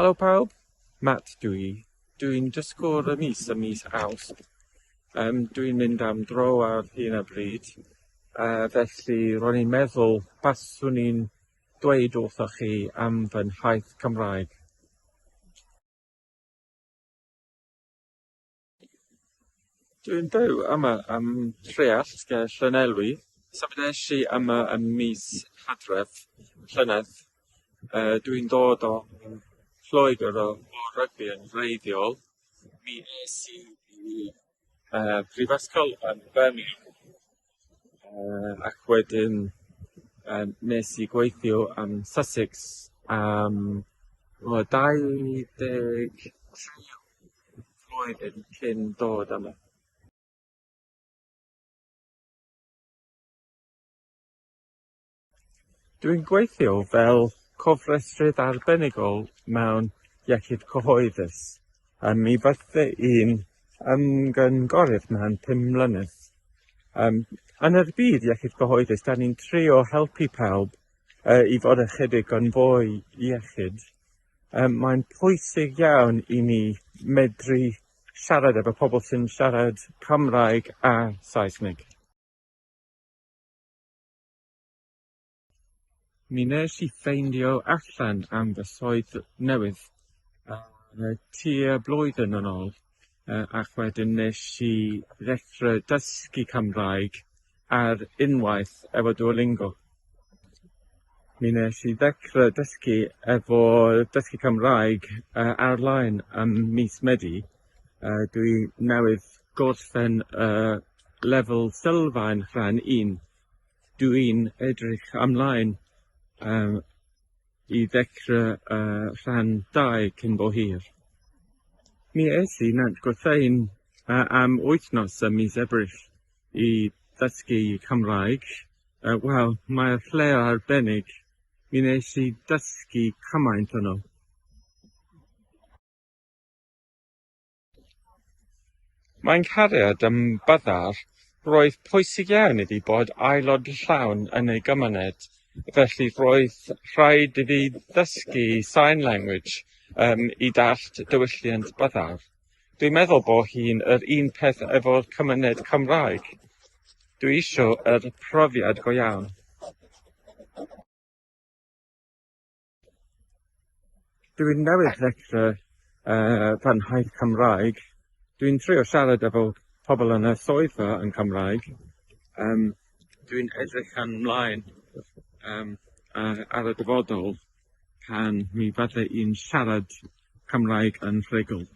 Helo pawb, Matt dw i. Dwi'n dysgwr y mis ym mis Awst. Um, dwi'n mynd am dro ar hyn o bryd, uh, felly ro'n i'n meddwl baswn i'n dweud wrthoch chi am fy nhaith Cymraeg. Dwi'n byw yma ym Mhreallt ger Llanelwy. Symudais i yma ym mis Hydref llynedd. Yy dwi'n dod o Lloegr o o rygbi yn wreiddiol. Mi es i i yy prifysgol yn Birmingham. Yym ac wedyn yym wnes i gweithio yn Sussex am tua dau ddeg tri flwyddyn cyn dod yma. Dwi'n gweithio fel cofrestrydd arbenigol mewn iechyd cyhoeddus. Yym mi fydde i'n ymgynghorydd mewn pum mlynedd. Yym yn yr byd iechyd cyhoeddus 'dan ni'n trio helpu pawb yy i fod ychydig yn fwy iechyd. Yym mae'n pwysig iawn i ni medru siarad efo pobl sy'n siarad Cymraeg a Saesneg. Mi nes i ffeindio allan am fy swydd newydd yy tua blwyddyn yn ôl yy ac wedyn nes i ddechre dysgu Cymraeg ar unwaith efo Duolingo. Mi nes i ddechre dysgu efo dysgu Cymraeg yy ar-lein ym mis Medi yy dwi newydd gorffen y lefel sylfaen rhan un dw i'n edrych ymlaen yym i ddechre y rhan dau cyn bo hir. Mi es i Nant Gwrtheyrn yy am wythnos ym mis Ebrill i ddysgu Cymraeg yy wel mae'r lle arbennig mi nes i dysgu cymaint yno. Mae'n nghariad ym Byddar, roedd pwysig iawn iddi bod aelod llawn yn ei gymuned, felly roedd rhaid iddi ddysgu sign language um, i dallt diwylliant Byddar. Dwi'n meddwl bo hi'n yr un peth efo'r cymuned Cymraeg. Dwi isio yr profiad go iawn. Dwi'n newydd ddechrau yy fy nhaith Cymraeg. Dwi'n trio siarad efo pobl yn y swyddfa yn Cymraeg. Yym dwi'n edrych yn mlaen yym yy ar y dyfodol pan mi fydde i'n siarad Cymraeg yn rhugl.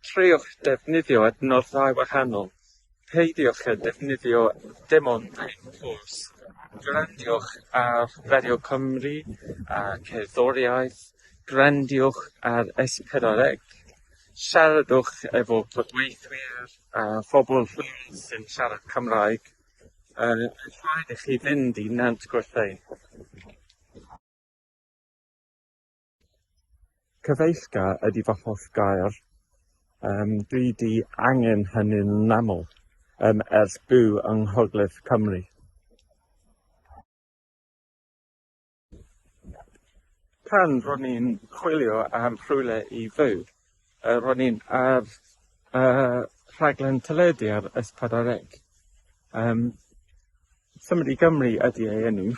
Treuliwch ddefnyddio adnoddau wahanol, peidiwch â defnyddio dim ond un ffos, grandiwch ar Radio Cymru a cerddoriaeth, grandiwch ar S4C, siaradwch efo cydweithwyr a phobl lleol sy'n siarad Cymraeg, yn rhaid i chi fynd i Nant Gwrtheyrn. Cyfeillga ydy fy hoff gair. Yym dwi 'di angen hynny'n aml yym ers byw yng Nghogledd Cymru. Pan ro'n i'n chwilio am rhywle i fyw yy ro'n i'n ar yy rhaglen teledu ar S4C yym Cymru i Gymru ydi ei enw.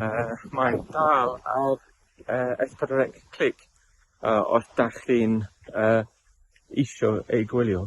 Yy, mae'n dal ar yy es pedwar ec clic yy os 'dach chi'n yy isio ei gwylio.